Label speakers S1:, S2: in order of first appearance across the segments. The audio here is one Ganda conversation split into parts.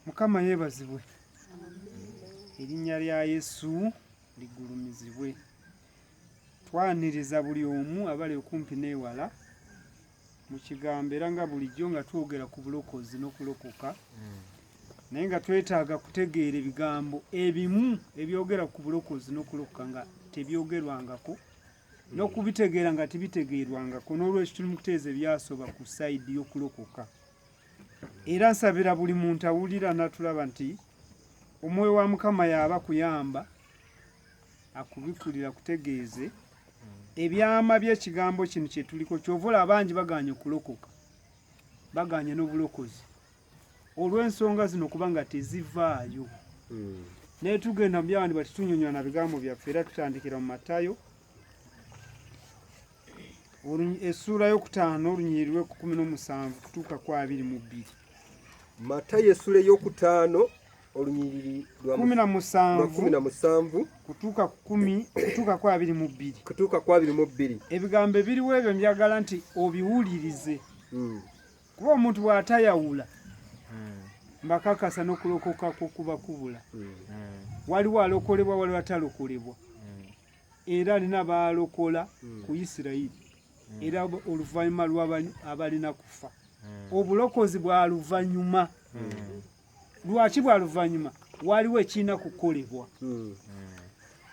S1: mukama yebazibwe erinnya lya yesu ligulumizibwe twaniriza buli omu abali okumpi n'ewala mu kigambo era nga bulijjo nga twogera ku bulokozi n'okulokoka naye nga twetaaga kutegeera ebigambo ebimu ebyogera ku bulokozi n'okulokoka nga tebyogerwangako n'okubitegeera nga tibitegeerwangako n'olwekyo tuli mu kuteeza ebyasoba ku sayidi y'okulokoka era nsabira buli muntu awulira natulaba nti omwoyo wa mukama yaaba kuyamba akubikulira kutegeeze ebyama by'ekigambo kino kyetuliko kyovula abangi baganye okulokoka baganye n'obulokozi olw'ensonga zino kuba nga tezivaayo hmm. naye tugenda mu byawandi bati tunyonyola na bigambo byaffe era tutandikira mu matayo essuula yokutaano olunyiri lwe kukumi n'omusanvu kutuuka ku abiri mu bbiri
S2: matayo essuula eyokutaano olunyiriri lwakumi na musanvu kutuuka
S1: kukumi kutuuka ku abiri mu bbiri kutuuka ku abiri
S2: mu bbiri ebigambo ebiriwo
S1: ebyo njagala nti obiwulirize hmm. kuba omuntu bw'atayawula hmm. mbakakasa n'okulokoka kw'okuba kubula hmm. waliwo alokolebwa waliwo atalokolebwa hmm. era alina baalokola ku isirayiri era oluvannyuma lw'abalina kufa obulokozi bwa luvannyuma lwaki bwa luvannyuma waliwo ekirina kukolebwa hmm.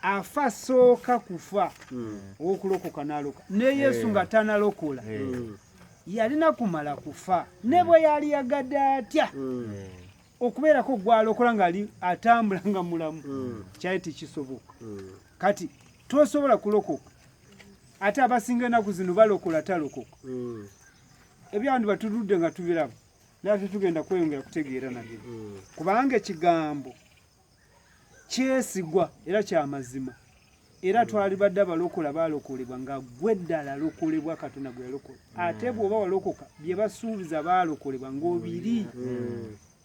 S1: afa sooka kufa hmm. owokulokoka naloka ne yesu eh. nga tanalokola eh. hmm. yalina kumala kufa ne bwe yali yagadde atya okubeerako gwalokola nga atambula nga mulamu kyali tekisoboka kati tosobola kulokoka ate abasinga enaku zino balokola talokoka ebyandi batuludde nga tubiraba naye ate tugenda kweyongera kutegeera nabyo hmm. kubanga ekigambo kyesigwa era kyamazima era hmm. twali badde abalokola balokolebwa nga gwe ddala lokolebwa katonda gwe yalokola hmm. ate bwoba walokoka bye basuubiza balokolebwa ng'obiri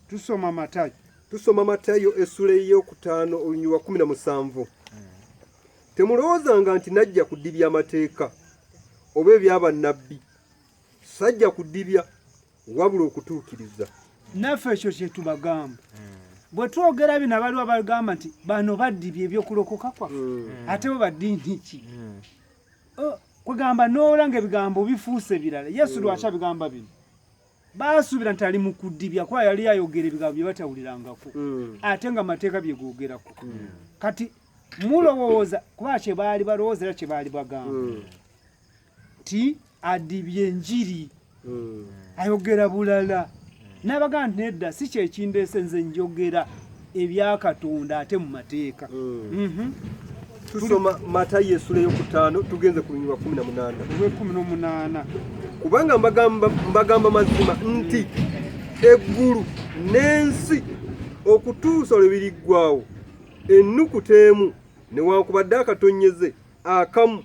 S1: tusoma matayo
S2: tusoma matayo essula ey'okutaano olunyuwa wa kumi na musanvu temulowoozanga nti najja kudibya amateeka oba ebyabannabbi sajja kudibya wabula okutuukiriza naffe ekyo
S1: kyetubagamba hmm. bwe twogera bino abaliwo abagamba nti bano baddibye ebyokulokoka kwaffe hmm. ate bo baddiini ki hmm. oh, kwegamba noolanga ebigambo bifuuse birala yesu lwaki abigamba bino baasuubira nti ali mu kudibya kuba yali ayogera ebigambo bye batawulirangako ate nga amateeka bye googerako kati mulowooza kuba kye baali balowooza era kye baali bagamba nti adibye enjiri hmm. ayogera bulala n'abaga nti nedda si kyekindeese nze njogera ebyakatonda ate mu mateeka hmm. mhm. tusoma
S2: matayo esula eyokutaano tugenze ku lunyirwa kumi na munaana olwekumi nomunaana
S1: kubanga
S2: mbagamba mazima nti eggulu n'ensi okutuusa lwe biriggwawo ennukuta emu newankubadde akatonyeze akamu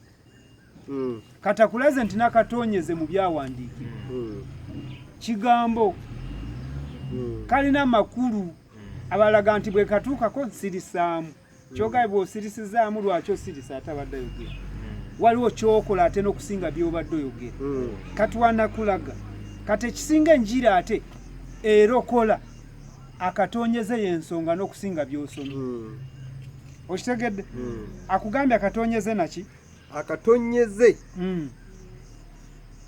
S1: mm. katakulaze nti nakatonyeze mu byawandiikibwa mm. kigambo mm. kalina amakulu mm. abalaga nti bwekatuukako nsirisaamu mm. kyogae bwosirisizaamu lwaki osirisa ate abadde ayogera mm. waliwo kyokola ate n'okusinga byobadde oyogera mm. katwanakulaga kati ekisinga enjira ate erokola akatonyeze yensonga n'okusinga byosoma mm. okitegedde hmm. akugambye akatonyeze naki akatonyeze
S2: hmm.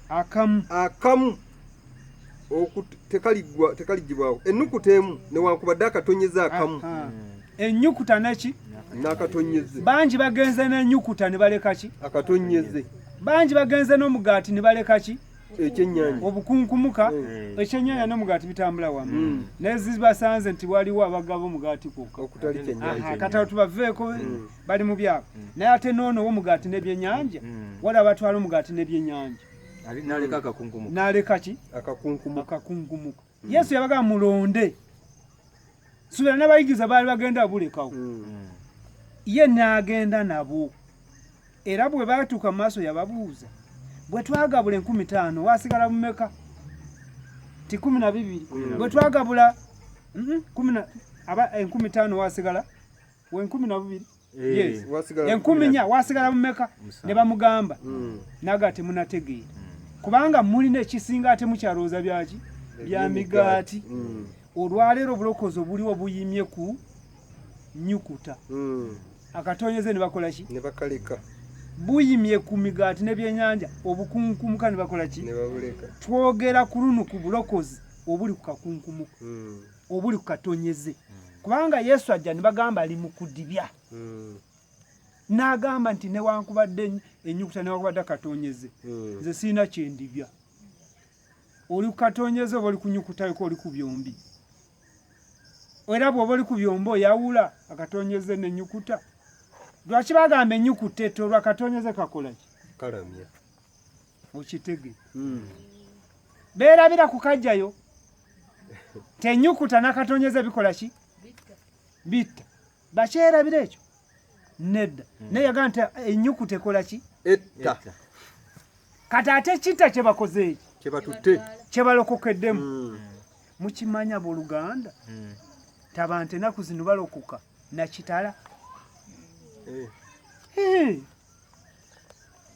S2: akamu akamu tekaligibwawo ennukuta emu newankubadde akatonyeze akamu hmm. ennyukuta
S1: neki nakatonyeze
S2: bangi bagenze
S1: n'ennyukuta ne baleka ki akatonyeze
S2: bangi bagenze
S1: n'omugaati ne baleka ki ekyenyanja
S2: obukunkumuka
S1: eh. ekyenyanja n'omugaati bitambula wamu hmm. naye zibasanze nti waliwo abagaba omugaati kwokka okutali kyenyanja kata
S2: tubaveeko
S1: hmm. bali mu byabo hmm. naye ate noono womugaati n'ebyenyanja wali abatwala omugaati n'ebyenyanja
S3: naleka ki
S1: akakunkumuka
S2: yesu yabagamba
S1: mulonde subira n'abayigiza baali bagenda bulekawo hmm. ye n'agenda nabo era bwe baatuuka mu maaso yababuuza bwe twagabula enkumi taano wasigala mumeka ti kumi na bibiri bwe twagabula enkumi taano wasigala wenkumi nabubiri eh. enkumi nya
S2: wasigala
S1: mumeka ne bamugamba hmm. naga ate munategeera hmm. kubanga mulina ekisinga ate mukyalowooza byaki bya migaati hmm. olwaleero obulokozi obuliwo buyimye ku nyukuta akatonyeze ne bakola ki ne bakaleka
S2: buyimye
S1: ku migaati n'ebyenyanja obukunkumuka ne bakola ki ne babuleka
S2: twogera ku lunu
S1: ku bulokozi obuli ku kakunkumuka obuli ku katonyeze kubanga yesu ajja ne bagamba ali mu kudibya hmm. n'agamba nti newankubadde enyukuta newankubadde akatonyeze hmm. nze sirina kyendibya oli ku katonyeze oba oli kunyukutayoko oli ku byombi era bwoba oli ku byombi oyawula akatonyeze nenyukuta lwaki bagamba enyukuta etolwa katonyeze kakolaki kalamya mukitege hmm. beerabira kukajjayo tenyukuta nakatonyeza bikola ki bitta bakyerabira ekyo nedda hmm. naye yagaa nti enyukuta ekola ki etta kati ate kitta kyebakozeeki kyebatutte
S2: kyebalokokeddemu
S1: hmm. mukimanya boluganda tabante enaku zino balokoka nakitala eh.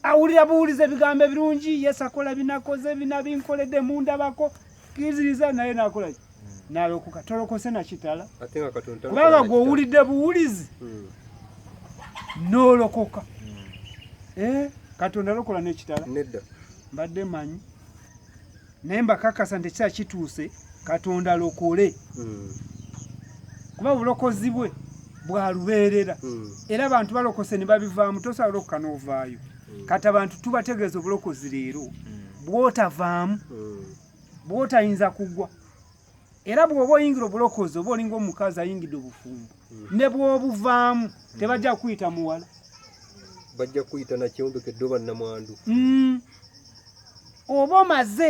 S1: awulira buwuliza ebigambo ebirungi yesu akola binakoze bina binkoledde mundabako kiziriza naye nakolaki hmm. nalokoka tolokose nakitala kubanga
S2: gwowulidde
S1: buwulizi hmm. nolokoka hmm. eh, katonda alokola nekitala
S2: mbadde manyi
S1: naye mbakakasa nti ekiseera kituuse katonda alokole hmm. kuba obulokozi bwe bwalubeerera hmm. era abantu balokose ne babivaamu tosobola okuka n'ovaayo hmm. kati abantu tubategeeza obulokozi leero bwotavaamu bwotayinza kugwa era bw'oba oyingira obulokozi oba olinga omukazi ayingidde obufumbo hmm. ne bw'obuvaamu hmm. tebajja kuyita muwala bajja
S2: kuyita nakyombekedde oba namwandu hmm.
S1: oba omaze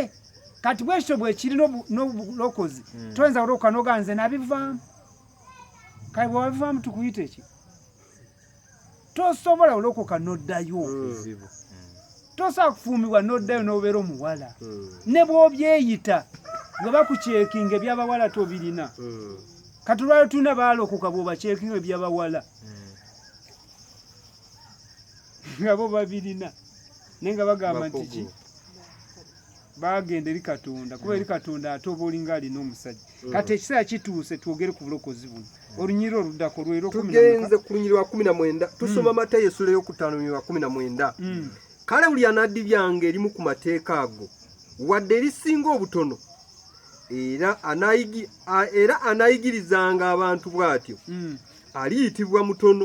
S1: kati bwekityo bwekiri n'obulokozi toyinza kulokoka noga nze nabivaamu kale bwewabivaamu tukuyita eki tosobola kulokoka n'oddayo tosobola kufuumibwa n'oddayo n'obeera omuwala ne bw'obyeyita nga bakukyekinga ebyabawala tobirina kati olwaliro tulina baalokoka bw'obakyekinga ebyabawala nga bo babirina naye nga bagamba nti ki bagenda eri katonda kuba eri mm. katonda ate oba olinga alina omusajja mm. kati ekiseera kituuse twogere ku bulokozi buno mm. olunyiriro oluddako lwerotugenze ku lunyiriro lwa
S2: kumi na mwenda tusoma mata yesula eyokutaano lunyiriro lwa kumi na mwenda kale buli anaddi byange erimu ku mateeka ago wadde erisinga obutono era anayigirizanga abantu bw'atyo aliyitibwa mutono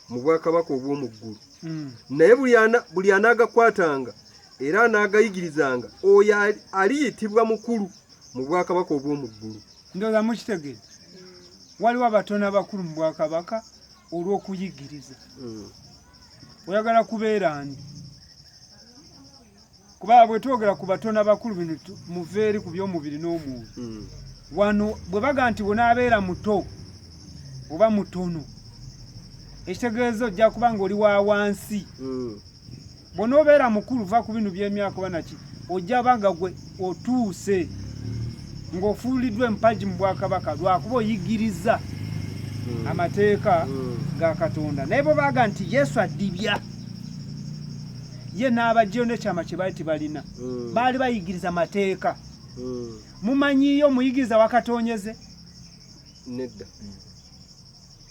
S2: mu bwakabaka obw'omu ggulu naye buli anagakwatanga era anaagayigirizanga oyo aliyitibwa mukulu mu bwakabaka obw'omu ggulu ndoza mukitegedde
S1: waliwo abatono abakulu mu bwakabaka olw'okuyigiriza hmm. oyagala kubeera ndi kuba bwe twogera ku batono abakulu bino muveeri ku by'omubiri n'omwoyo hmm. wano bwe baga nti bwonaabeera muto oba mutono ekitegeeza ojja kuba nga oli wa wansi hmm. bw'onoobeera mukulu va ku binu by'emyaka oba naki ojja ba nga gwe otuuse ng'ofuuliddwa empagi mu bwakabaka lwakuba oyigiriza hmm. amateeka hmm. ga katonda naye bwe baaga nti yesu addibya ye n'abajjayo n'ekyama kye baali tebalina hmm. baali bayigiriza mateeka mumanyiyo omuyigiriza wakatonyeze
S2: nedda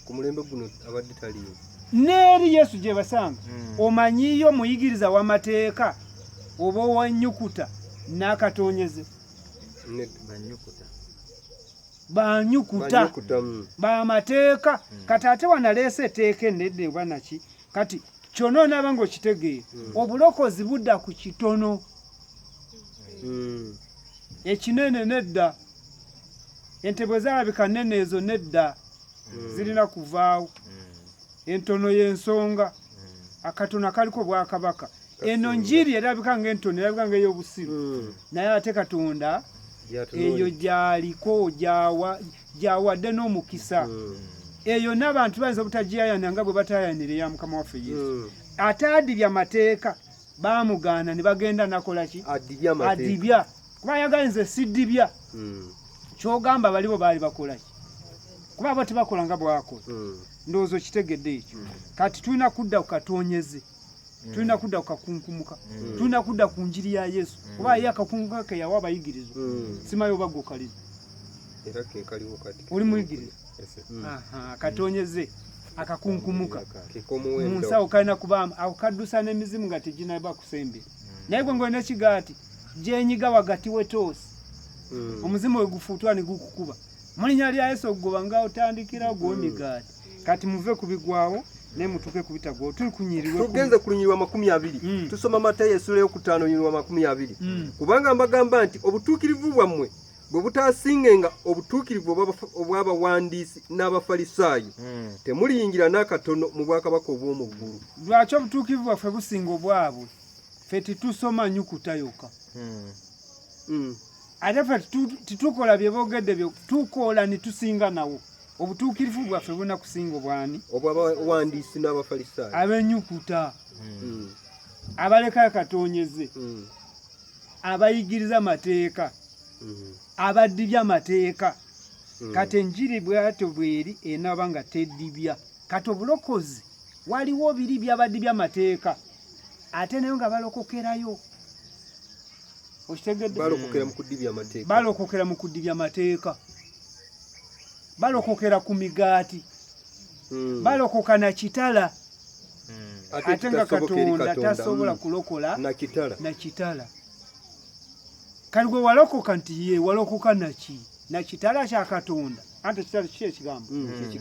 S2: ku mulembe guno abadde taliyo n'eri yesu
S1: gye basanga hmm. omanyiyo muyigiriza w'amateeka oba owanyukuta n'akatonyeze banyukuta hmm. bamateeka hmm. kati ate wanaleesa eteeka enedde oba naki kati kyona onaaba nga okitegeera obulokozi budda ku kitono ekinene nedda ente bwe zaalabika nnene ezo nedda hmm. zirina kuvaawo hmm. entono y'ensonga hmm. akatono akaliko bwakabaka eno njiri erabika nga entono erabika nga ey'obusiru naye ate katonda eyo gyaliko gyawadde n'omukisa eyo n'abantu bayinza obutagiyayanira nga bwe batayayanira eya mukama waffe yesu ataadibya mateeka baamugaana ne bagenda nakola ki adibya kuba ayagala nze sidibya hmm. kyogamba balibo baali bakola ki kuba abo tebakola nga bwakola hmm. ndowooza okitegedde ekyo hmm. kati tulina kudda ku katonyezi tulina kudda ku kakunkumuka tulina kudda ku njiri ya yesu kuba ye akakunkumuka keyawa abayigirizwa simayo bagukaliza
S2: oli muyigiriza
S1: mm. akatonyeze akakunkumuka mu nsawo kalina kubaamu ako kaddusa n'emizimu nga teginaba kusembera mm. naye gwe ngolina kigaati gyenyiga wagati wetoosi mm. omuzimu we gufuutwa ne gukukuba mu linnya lya yesu okugoba nga otandikira gwomigaati kati muve ku bigwawo naye mutuuke ku bitagwawo tuli kunyirirwa tugenze ku lunyirwa makumi
S2: abiri mm. tusoma matayo esula eyokutaano nyirwa makumi abiri kubanga mbagamba nti obutuukirivu bwammwe bwe butaasingenga obutuukirivu obw'abawandiisi n'abafalisaayo hmm. temuliyingira n'akatono mu bwakabaka obw'omu ggulu lwaki obutuukirivu
S1: bwaffe businga obwabwe ffe tetusoma nyukuta yokka hmm. Hmm. ate ffe tetukola bye boogedde byo tukola ne tusinga nawo obutuukirivu bwaffe buna kusinga obwani obwabawandiisi
S2: n'abafalisaayo ab'enyukuta
S1: abalekayo katonyeze abayigiriza mateeka mm-hmm. abadibya mateeka mm. kati enjiri bwato bweri enaba nga tedibya kati obulokozi waliwo biri byabadibya mateeka ate nayo nga balokokerayo okitegedde balokokera
S2: mu kudibya
S1: mateeka balokokera ku migaati hmm. balokoka na kitala hmm. ate nga katonda tasobola hmm. kulokola na kitala kati gwe walokoka nti ye walokoka naki na kitala kya katonda ante kitala kiki ekigambo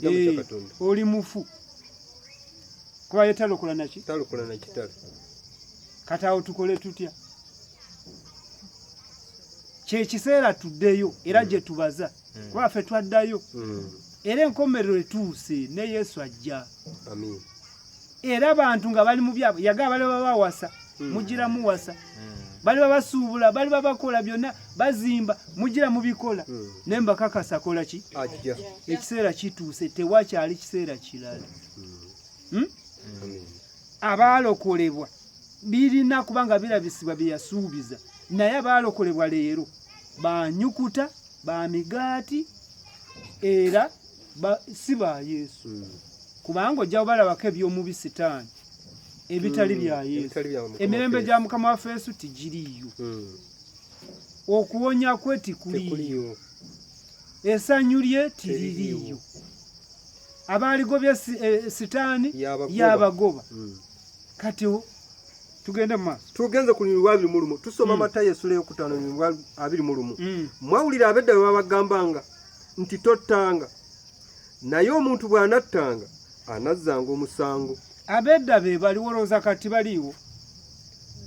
S1: eh, oli mufu kuba ye talokola naki talokola na kitala
S2: kati
S1: awo tukole tutya kyekiseera tuddeyo era gye tubaza hmm. kuba ffe twaddayo hmm. era enkomerero etuuse ne yesu ajja
S2: era
S1: abantu nga bali mu byabo yagaa bali babawasa hmm. mugira muwasa bali babasuubula bali babakola byonna bazimba mugira mubikola naye mbakakasa kola ki ekiseera
S2: kituuse
S1: tewakyali kiseera kirala hmm? abaalokolebwa birina kubanga birabisibwa byeyasuubiza naye abaalokolebwa leero banyukuta ba migaati era si ba yesu hmm. kubanga ojja kubalabako eby'omubi sitaani ebitali hmm. bya yesu emirembe gya mukama waffe yesu tigiriiyo hmm. okuwonya kwe tikuliiyo esanyu lye tiririiyo abaaligobye eh, sitaani yabagoba kati tugende mu maaso tugenze ku lunyiriri lwa abiri
S2: mu lumu tusoma mm. matayo esula eyokutaano lunyiriri lwa abiri mu lumu mm. mwawulira abedda bwe babagambanga nti tottanga naye omuntu bw'anattanga anazzanga omusango abedda be
S1: bali wolowooza kati baliiwo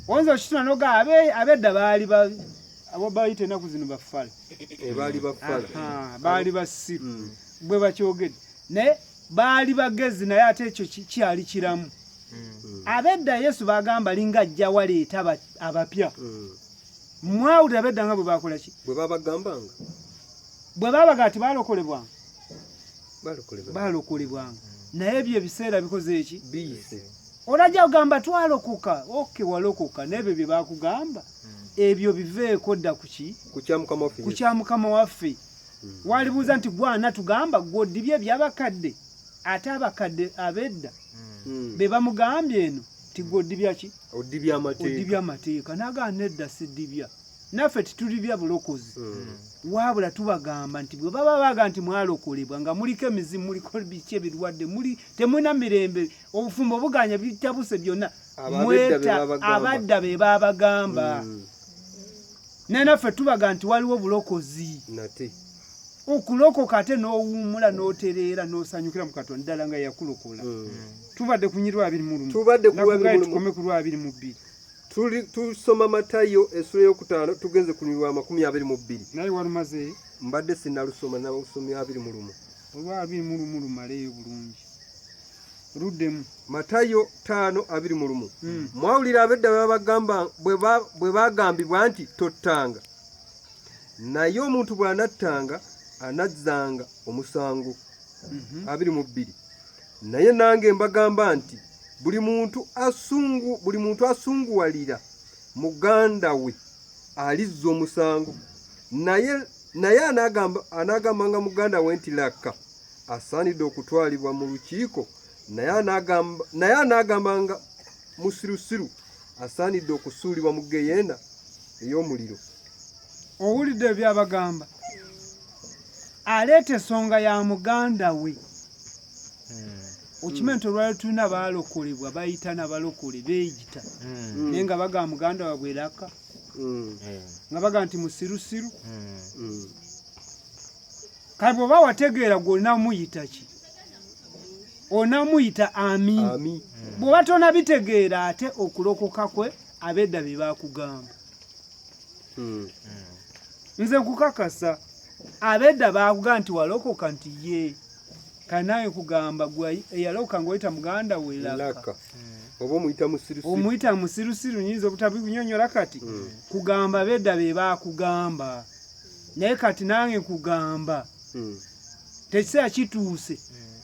S1: oyinza okituna noga abedda baali abo bayita enaku zino bafala eh, baali
S2: bafala baali basiru
S1: mm. bwe bakyogedde naye baali bagezi naye ate ekyo kyali kiramu hmm. abedda yesu bagamba linga ajja waleeta abapya hmm. mwawulira abedda nga bwe bakola ki bwe babagambanga
S2: bwe
S1: babaga ati balokolebwanga
S2: balokolebwanga naye ebyo ebiseera
S1: bikoze eki
S2: olajja ogamba
S1: twalokoka oke walokoka n'ebyo bye bakugamba hmm. ebyo biveeko dda kuki ku
S2: kya mukama waffe
S1: walibuuza nti gwana tugamba gwodibye ebyabakadde ate abakadde abedda hmm. be bamugambye eno ti gwodibya ki odibya amateeka naga nedda sidibya naffe titulibya bulokozi hmm. wabula tubagamba nti bwe baba baga nti mwalokolebwa nga muliko emizimu muliko biki ebirwadde muli temulina mirembe obufumbo buganya bitabuse byonna mweta abadda be babagamba hmm. naye naffe tubaga nti waliwo bulokozi nate okulokoka ate n'owummula n'otereera n'osanyukira mu katonda ddala nga yakulokola mm. tubadde kunyi lwabiri mu lumu tukome ku lwabiri mu bbiri tusoma
S2: matayo esula eyokutaano tugenze ku lwa makumi abiri mu bbiri naye walumaze
S1: mbadde sinalusoma
S2: nausomya abiri mu lumu olwabiri mu
S1: lumu lumaleeyo bulungi luddemu matayo
S2: taano abiri mu lumu hmm. mwawulira abedda bebagamba bwe bagambibwa nti tottanga naye omuntu bw'anattanga anazzanga omusango mhm. abiri mu bbiri naye nange mbagamba nti buli muntu asungu buli muntu asunguwalira muganda we alizza omusango naye naye anagamba anagamba nga muganda we nti lakka asaanidde okutwalibwa mu lukiiko naye anaagamba nga musirusiru asaanidde okusuulibwa mu geyeena ey'omuliro
S1: owulidde ebyabagamba aleeta esonga ya muganda we hmm. okimanyi nti olwali tulina baalokolebwa bayita nabalokole beeyita hmm. naye nga bagamba muganda wabwe laka hmm. nga bagamba nti musirusiru kale bwoba wategeera gwe olinamuyita ki onamuyita ami bwoba tonabitegeera ate okulokoka kwe abedda bye bakugamba hmm. nze nkukakasa abedda bakugamba nti walokoka nti ye kanaye kugamba gwe eyalokoka ngaoyita muganda we laka oba omuyita
S2: musirusiru omuyita musirusiru
S1: nyinza obutabinyonyola kati hmm. kugamba abedda be bakugamba naye kati nange nkugamba hmm. tekiseera kituuse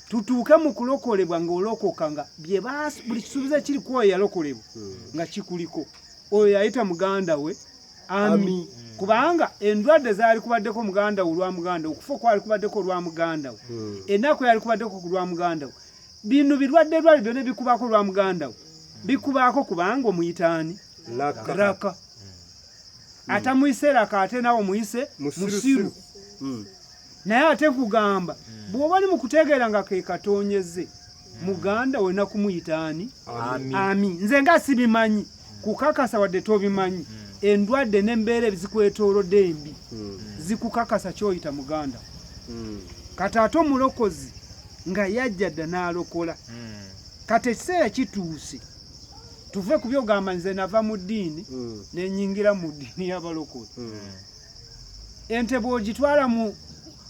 S1: tutuuke mu kulokolebwa ng'olokoka nga buli kisuubizo ekiri ku oyo yalokolebwa hmm. nga kikuliko oyo yayita muganda we ami hmm. kubanga endwadde zaali kubaddeko muganda we olwa muganda okufa okwali kubaddeko olwa muganda we ennaku yali kubaddeko ku lwa muganda we bino birwadde lwali byona bikubaako olwa muganda we bikubaako kubanga omuyitaani laka mm. atamuyise laka ate nawe omuyise musiru mm. naye ate nkugamba mm. bwoba oli mukutegeera nga kekatonyeze muganda olina kumuyita ani ami nze nga sibimanyi kukakasa wadde tobimanyi endwadde nembeera ebizikwetolodde embi zikukakasa kyoyita muganda kati ate omulokozi nga yajja dda n'alokola kati ekiseera kituuse tuve ku byogamba nze nava mu ddiini mm. nenyingira mu ddiini y'abalokole mm. ente bw'ogitwala mu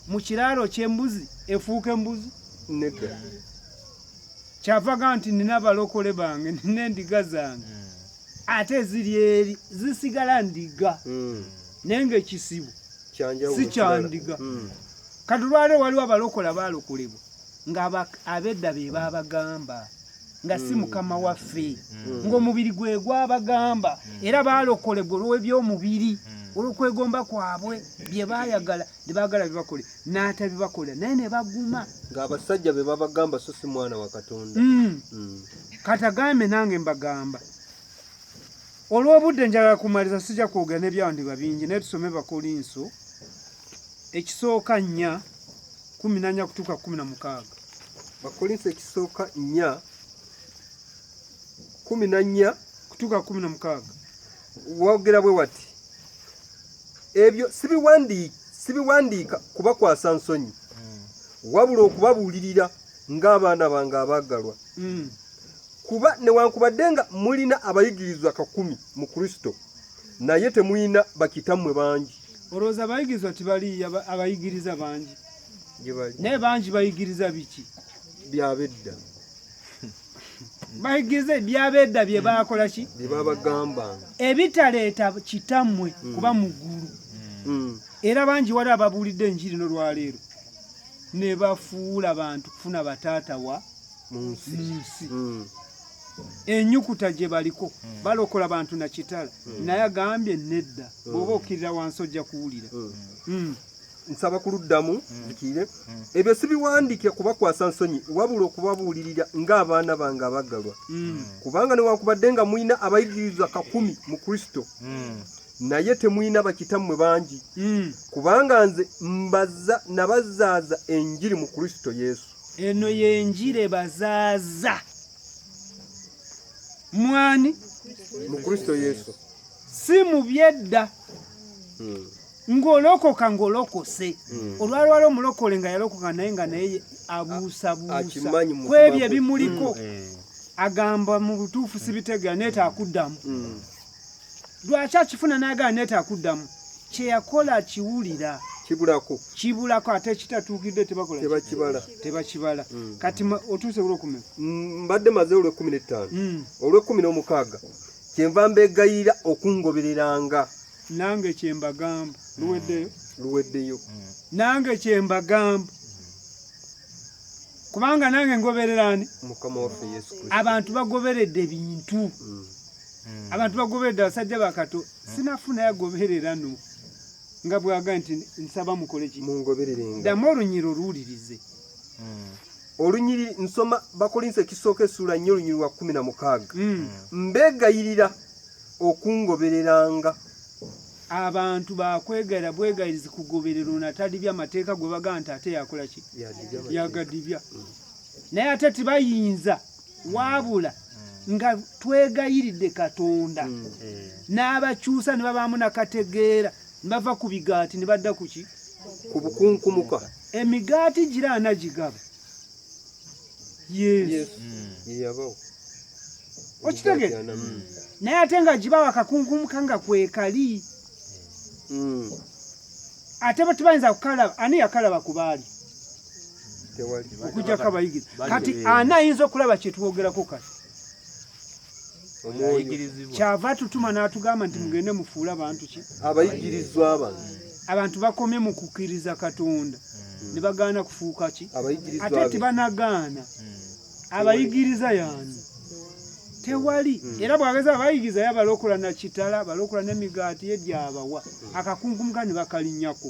S1: mu kiraalo ky'embuzi efuuka embuzi nedda kyavaga nti nina abalokole bange nina endiga zange mm. ate ziri eri zisigala ndiga naye ngaekisibu si kyandiga katulwaliro waliwo abalokola balokolebwa nga abedda be baabagamba nga si mm. mukama waffe mm. ng'omubiri gwe gwabagamba mm. era baalokolebwa olw'ebyomubiri olw'okwegomba kwabwe bye baayagala ne baagala bibakole n'atabibakolera naye ne baguma ng'abasajja be
S2: babagamba so si mwana wa katonda
S1: katagambe nange mbagamba olw'obudde njagala kumaliza sijja kwogera n'ebyawandiba bingi naye tusome bakolinso ekisooka nnya kumi na nnya kutuuka kumi na mukaaga bakolinso
S2: ekisooka nnya kumi na nnya kutuuka kumi
S1: na mukaaga wogera
S2: bwe wati ebyo sibiwandiika kubakwasa nsonyi hmm. wabula okubabuulirira ng'abaana bange abaagalwa hmm. kuba newankubadde nga mulina abayigirizwa kakumi mu kristo naye temulina bakitammwe bangi Olowooza abayigirizwa
S1: tibaliiyo abayigiriza bangi naye bangi bayigiriza biki byabedda bayigiriza ebyabedda bye baakola ki byebabagambanga
S2: ebitaleeta
S1: kitammwe mm. kuba mu ggulu mm. era bangi wali ababuulidde enjiri nolwaleero ne bafuula bantu kufuna bataata wa mu nsi mm. enyukuta gye baliko hmm. balokola bantu na kitala hmm. naye agambye nedda hmm. bwoba okirira wansi ojja kuwulira
S2: nsaba ku luddamu zikire ebyo sibiwandike kubakwasa nsonyi wabula okubabuulirira ng'abaana bange abagalwa kubanga newankubadde nga mulina abayigiriza kakumi mu kristo naye temulina bakitammwe bangi kubanga nze mbaza nabazaaza enjiri mu kristo yesu eno yenjire
S1: bazaaza mwani mu kristo
S2: yesu si mu
S1: byedda hmm. ng'olokoka ng'olokose hmm. olwalwala omulokole nga yalokoka naye nga naye abuusabuusa ku ebyo ebimuliko hmm. agamba mu butuufu sibitegera naye taakuddamu lwaki akifuna n'agaana neetaaga kuddamu kye yakola akiwulira kibulako kibulako ate ekitatuukidde tebakibala tebakibala mm. kati otuuse olwekumi mm, mbadde maze
S2: olwekumi n'ettaano mm. olwekumi n'omukaaga kyenva mbegayira okungobereranga nange
S1: kyembagamba luweddeyo
S2: luweddeyo nange
S1: kyembagamba
S2: kubanga nange ngobererani abantu
S1: bagoberedde
S2: bintu
S1: mm. hmm. abantu bagoberera abasajja bakato hmm. sinafuna yagoberera no nga bwaga nti nsaba mukole ki damu olunyiri oluwulirize hmm.
S2: olunyiri nsoma bakolinsa ekisooka esuula nnyo olunyiri lwa kumi na mukaaga mbegayirira okungobereranga
S1: abantu bakwegera bwegayirizi kugoberera ono atadibya amateeka gwe bagaa nti ate yakola ki yagadibya naye ate tibayinza wabula nga twegayiridde katonda mm. eh. n'abakyusa ne babaamu nakategeera ne bava ku bigaati ne badda ku ki ku bukunkumuka
S2: emigaati
S1: gira anagigaba yesu mm. okitegere mm. naye ate nga gibawa kakunkumuka nga kwekali ate batubayinza kukalaba ani yakalaba ku baali okujjako abayigiriza kati ani ayinza okulaba kyetwogerako kati kyava atutuma n'atugamba nti mugende mufuule abantu ki abayigirizwa
S2: bano abantu
S1: bakomye mu kukkiriza katonda hmm. ne bagaana kufuuka ki ate tebanagaana hmm. abayigiriza yaani tewali hmm. era bwageza abayigiriza yabalokola na kitala balokola n'emigaati ye gyabawa akakunkumka ne bakalinyako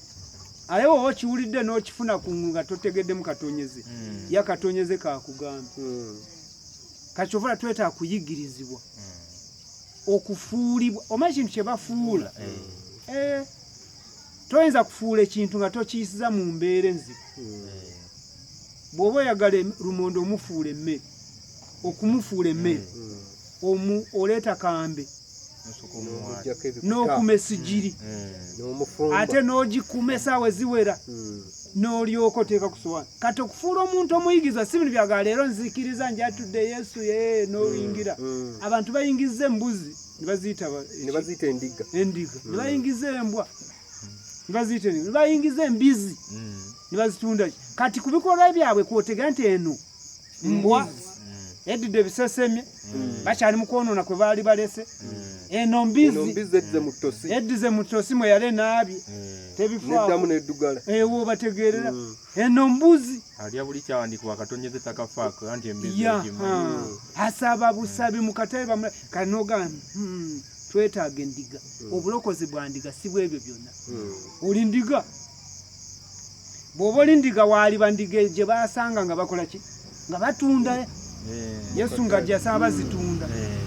S1: aye woba okiwulidde n'okifuna ku nga totegeddemu katonyeze hmm. ya katonyeze kakugamba hmm. kakyovula twetaaga kuyigirizibwa hmm. okufuulibwa omanyi kintu kye bafuula eh, toyinza kufuula ekintu nga tokiyisiza mu mbeera enzibu bw'oba oyagala lumonde omufuula emmere okumufuula emmere omu oleeta kambe n'okuma esigiri mm. mm. ate n'ogikuuma esaawa eziwera mm. n'olyoka oteeka ku sowaani kati okufuula omuntu omuyigiriza si bino byaga leero nzikiriza njatudde yesu ye n'oyingira abantu bayingiza embuzi nebaziyita endiga endiga nebayingiza embwa nebaziyita nebayingiza embizi nebazitundaki kati ku bikolwa byabwe kwotega nti eno mbwa edidde bisesemye hmm. bakyali mukwonona kwe baali balese hmm. eno mbizi edize mutosi mwe yali enaabi hmm. tebifamu nedugala ewo bategerera eno mbuzi alya buli kyawandikibwa
S3: katonyeze takafaako anti embizi
S1: asaba busabi mukatabe bamula kanogambye hmm, twetaaga endiga obulokozi bwa ndiga si bwebyo byonna oli ndiga bw'oba oli ndiga waaliba ndiga gye baasanga nga bakola ki nga batunda eh, yesu nga gyasaba bazitunda eh.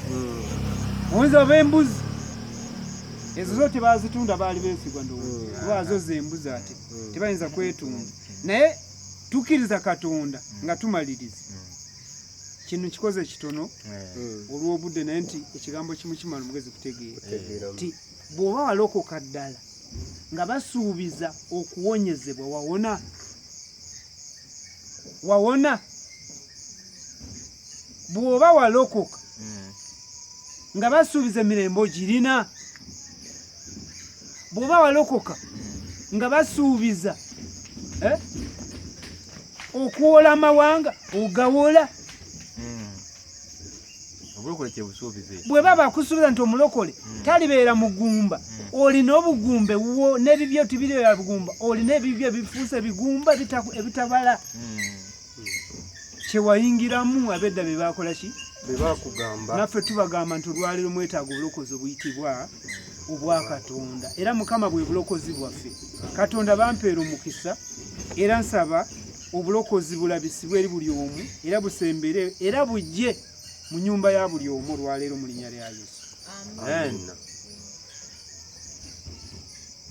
S1: hmm. oyinza oba embuzi ezo zo tebazitunda baali beesigwa ndowoozo hmm. zembuzi ate hmm. tebayinza kwetunda naye tukkiriza katonda nga tumaliriza kino kikoze ekitono olw'obudde naye nti ekigambo kimu kimala omugezi kutegeera nti bw'oba walokoka ddala nga basuubiza okuwonyezebwa wawona wawona bw'oba walokoka hmm. nga basuubiza emirembe ogirina bw'oba walokoka hmm. nga basuubiza eh, okuwola amawanga ogawola bwe baba akusuubira nti omulokole hmm. talibeera mugumba hmm. olina obugumba ewuwo n'ebibyo tibiribeera bugumba olina ebibyo ebifuuse ebigumba ebitabala hmm. kyewayingiramu abedda be baakola ki bebakugamba
S2: naffe tubagamba
S1: nti olwaliro mwetaaga obulokozi obuyitibwa obwa katonda era mukama bwe bulokozi bwaffe katonda bampeera omukisa era nsaba obulokozi bulabisibwe eri buli omu era busembere era bujje mu nyumba ya buli omu olwaleero mu linnya lya yesu Amen. Amen.